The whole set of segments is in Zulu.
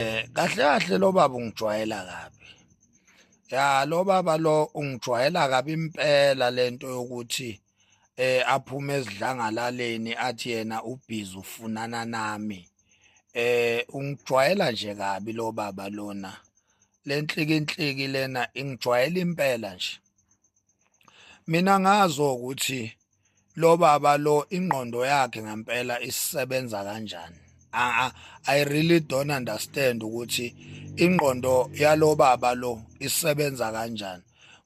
Eh kahle kahle lo baba ungijwayela kabi. Ya lo baba lo ungijwayela kabi impela lento yokuthi eh aphume ezidlangalaleni athi yena ubhizi ufunana nami. Eh ungijwayela nje kabi lo baba lona. Lenhliki inhliki lena ingijwayela impela nje. Mina ngazo ukuthi lo baba lo ingqondo yakhe ngempela isebenza kanjani i really don't understand ukuthi ingqondo yalo baba lo isebenza kanjani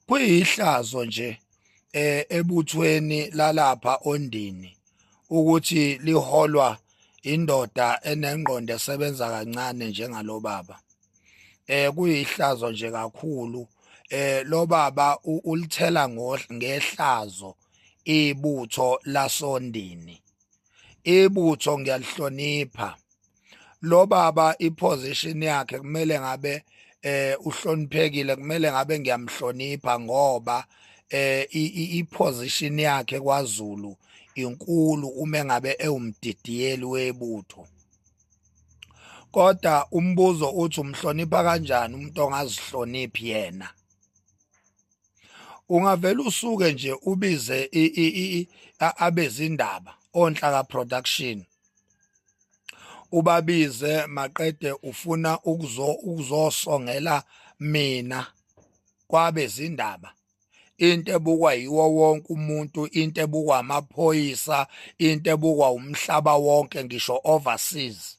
kuyihlazo nje eh, ebuthweni lalapha ondini ukuthi liholwa indoda enengqondo esebenza kancane njengalo baba eh kuyihlazo nje kakhulu eh lo baba ulithela ngehlazo ibutho lasondini ibutho ngiyalihlonipha lo baba iposition yakhe kumele ngabe eh uhloniphekile kumele ngabe ngiyamhlonipha ngoba eh iposition yakhe kwaZulu inkulu uma ngabe ewumdidiyeli webutho kodwa umbuzo uthi umhlonipha kanjani umuntu ongazihloniphi yena ungavela usuke nje ubize abezindaba onhlaka production ubabize maqede ufuna ukuzosongela mina kwabezindaba into ebukwa yiwo wonke umuntu into ebukwa amaphoyisa into ebukwa umhlaba wonke ngisho overseas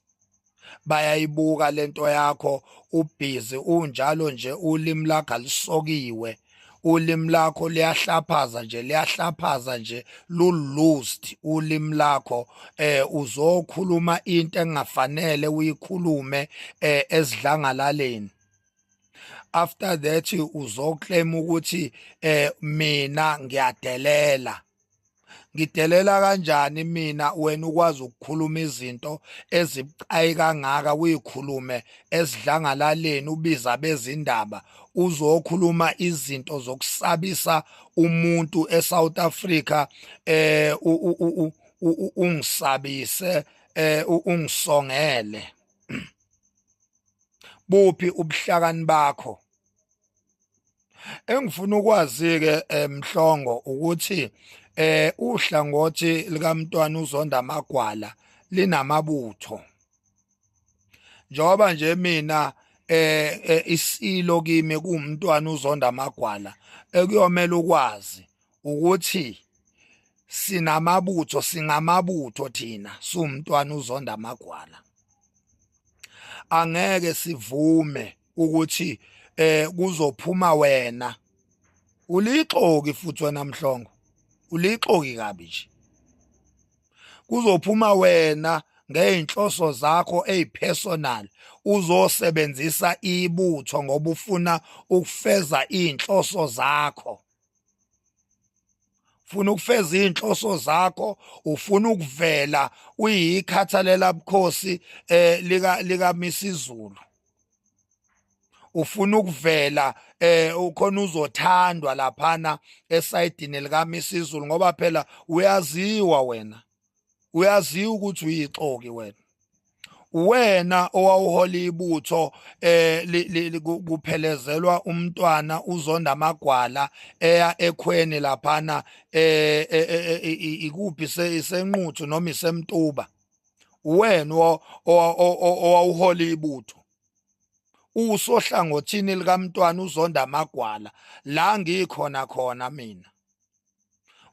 bayayibuka lento yakho ubhizi unjalo nje ulimi lakho lisokiwe ulimi lakho liyahlaphaza nje liyahlaphaza nje lulust ulimi lakho eh uzokhuluma into engafanele uyikhulume eh esidlangalaleni after that uzoclaim ukuthi eh mina ngiyadelela ngidelela kanjani mina wena ukwazi ukukhuluma izinto ezibucayi kangaka uyikhulume esidlangalaleni ubiza bezindaba uzokhuluma izinto zokusabisa umuntu eSouth Africa eh ungisabise eh ungisongele buphi ubuhlakani bakho engifuna ukwazi ke emhlongo eh, ukuthi eh uhlangothi likamntwana uzonda amagwala linamabutho njengoba nje mina eh, eh isilo kimi kuumntwana uzonda amagwala ekuyomela ukwazi ukuthi sinamabutho singamabutho thina sumntwana uzonda amagwala angeke sivume ukuthi eh kuzophuma wena ulixoki futhi wena mhlongo ulixoki kabi nje kuzophuma wena ngeyinhloso zakho ezipersonal uzosebenzisa ibutho ngoba ufuna ukufeza izinhloso zakho ufuna ukufeza izinhloso zakho ufuna ukuvela uyikhathalela bukhosi eh lika lika misizulu ufuna ukuvela eh ukhona uzothandwa laphana esayidini lika misizulu ngoba phela uyaziwa wena uyaziwa ukuthi uyixoki wena wena owawuhola ibutho eh kuphelezelwa umntwana uzonda amagwala eya ekhweni laphana eh, eh, eh, eh ikuphi senquthu noma isemtuba wena owawuhola ibutho usohlangothini likamntwana uzonda amagwala la ngikhona khona mina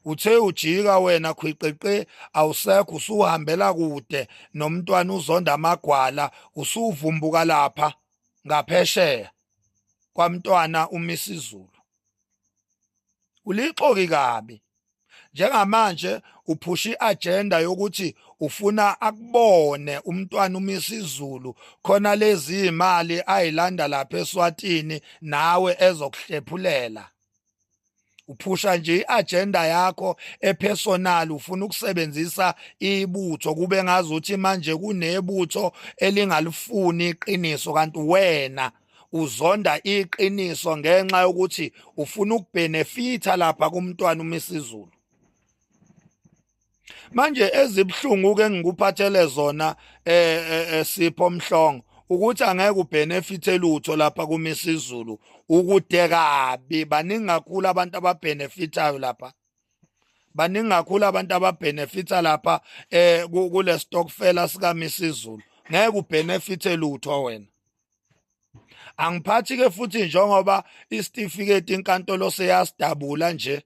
uthe ujika wena khwiqeqe awusekho usuhambela kude nomntwana uzonda amagwala usuvumbuka lapha ngaphesheya kwamntwana umisizulu ulixoki kabi njengamanje uphusha iagenda yokuthi ufuna akubone umntwana umisizulu khona lezi imali ayilanda lapha eSwatini nawe ezokuhlephulela uphusha nje iagenda yakho epersonal ufuna ukusebenzisa ibutho kube ngazuthi manje kunebutho elingalifuni iqiniso kanti wena uzonda iqiniso ngenxa yokuthi ufuna ukubenefitha lapha kumntwana uMisizulu manje ezibhlungu ke ngikuphathele zona eh, eh, eh sipho mhlongo ukuthi angeke ubenefithe lutho lapha kumisizulu ukude kabi baningi kakhulu abantu ababenefithayo lapha baningi kakhulu abantu ababenefitha lapha eh kule stockfela sika misizulu ngeke ubenefithe lutho wena angiphathi ke futhi njengoba isitifiketi inkantolo seyasidabula nje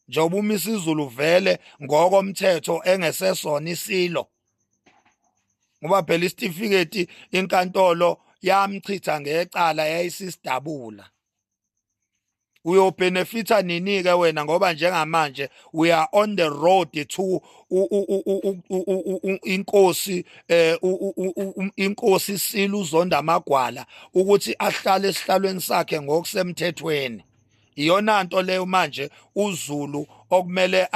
njengoba uma isizulu vele ngokomthetho engesesona isilo ngoba phela isitifiketi inkantolo yamchitha ngecala yayisisidabula uyobhenefitha nini-ke wena ngoba njengamanje we are on the road to inkosi um inkosi isile uzonda amagwala ukuthi ahlale esihlalweni sakhe ngokusemthethweni iyona nto leyo manje uzulu okumele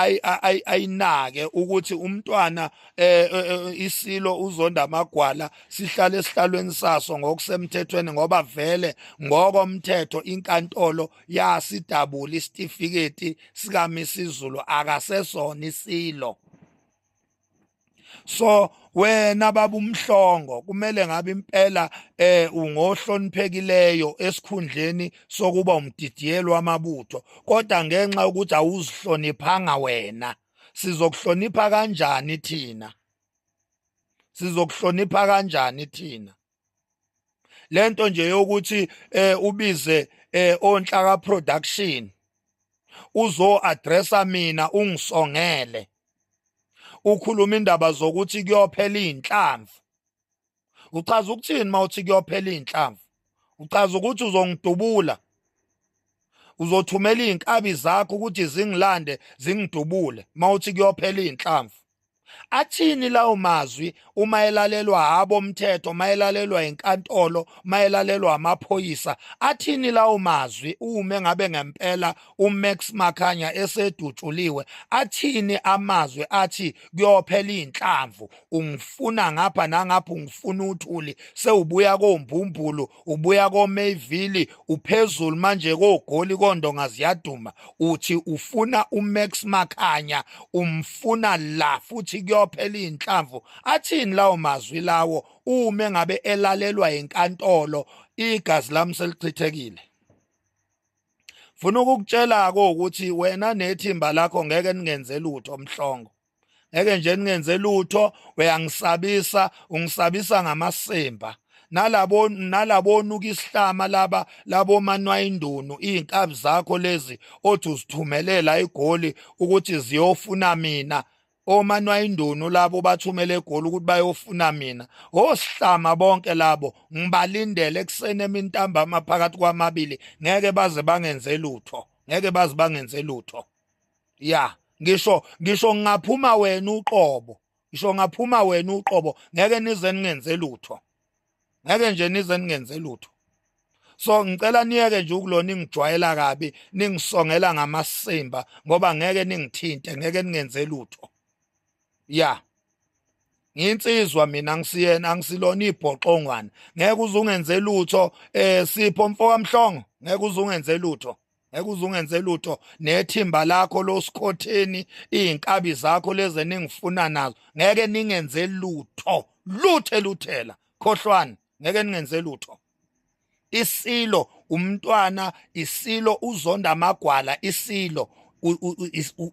ayinake ukuthi umntwana eh, eh, eh, isilo uzonda amagwala sihlale esihlalweni saso ngokusemthethweni ngoba vele ngokomthetho inkantolo yasidabula isitifiketi sikaMisizulu akasesona isilo so wena baba umhlongo kumele ngabe impela eh ungohloniphekileyo esikhundleni sokuba umdidiyelo wamabutho kodwa ngenxa ukuthi awuzihloniphanga wena sizokuhlonipha kanjani thina sizokuhlonipha kanjani thina lento nje yokuthi eh ubize eh onhlaka production uzo addressa mina ungisongele ukhuluma indaba zokuthi kuyophela izinhlamvu uchaza ukuthini mawuthi kuyophela izinhlamvu uchaza ukuthi uzongidubula uzothumela izinkabi zakho ukuthi zingilande zingidubule mawuthi kuyophela izinhlamvu athini lawo mazwi uma elalelwa habo mthetho mayelalelwa inkantolo mayelalelwa amaphoyisa athini lawo mazwi ume ngabe ngempela uMax Makhanya esedutshuliwe athini amazwi athi kuyophela inhlamvu ungifuna ngapha nangapha ungifuna uthuli sewubuya kombumbulu ubuya koMayville uphezulu manje kogoli kondonga ziyaduma uthi ufuna uMax Makhanya umfuna la futhi kuyophela inhlamvu athini lawo mazwi lawo ume ngabe elalelwa inkantolo igazi lami selichithekile funa ukukutshela ko ukuthi wena nethimba lakho ngeke ningenze lutho mhlongo ngeke nje ningenze lutho uyangisabisa ungisabisa ngamasimba nalabo nalabonuka isihlama laba labo manwa indunu izinkabi zakho lezi othi uzithumelela igoli ukuthi ziyofuna mina omanwa indunu labo bathumele egoli ukuthi bayofuna mina osihlama bonke labo ngibalindele ekuseni emintambama phakathi kwamabili ngeke baze bangenze lutho ngeke baze bangenze lutho ya ngisho ngisho ngingaphuma wena uqobo ngisho ngaphuma wena uqobo ngeke nize ningenze lutho ngeke nje nize ningenze lutho so ngicela niyeke nje ukulona ingijwayela kabi ningisongela ngamasimba ngoba ngeke ningithinte ngeke ningenze lutho ya nginsizwa mina ngisiyena angisilona ibhoxongwana ngeke uzungenze lutho eh sipho mfokamhlongo ngeke uzungenze lutho ekuzungenze lutho nethimba lakho losikhotheni izinkabi zakho leze ningifuna nazo ngeke ningenze lutho luthe luthela khohlwani ngeke ningenze lutho isilo umntwana isilo uzonda amagwala isilo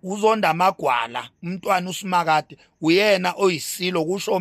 uzonda amagwala umntwana usimakade uyena oyisilo kusho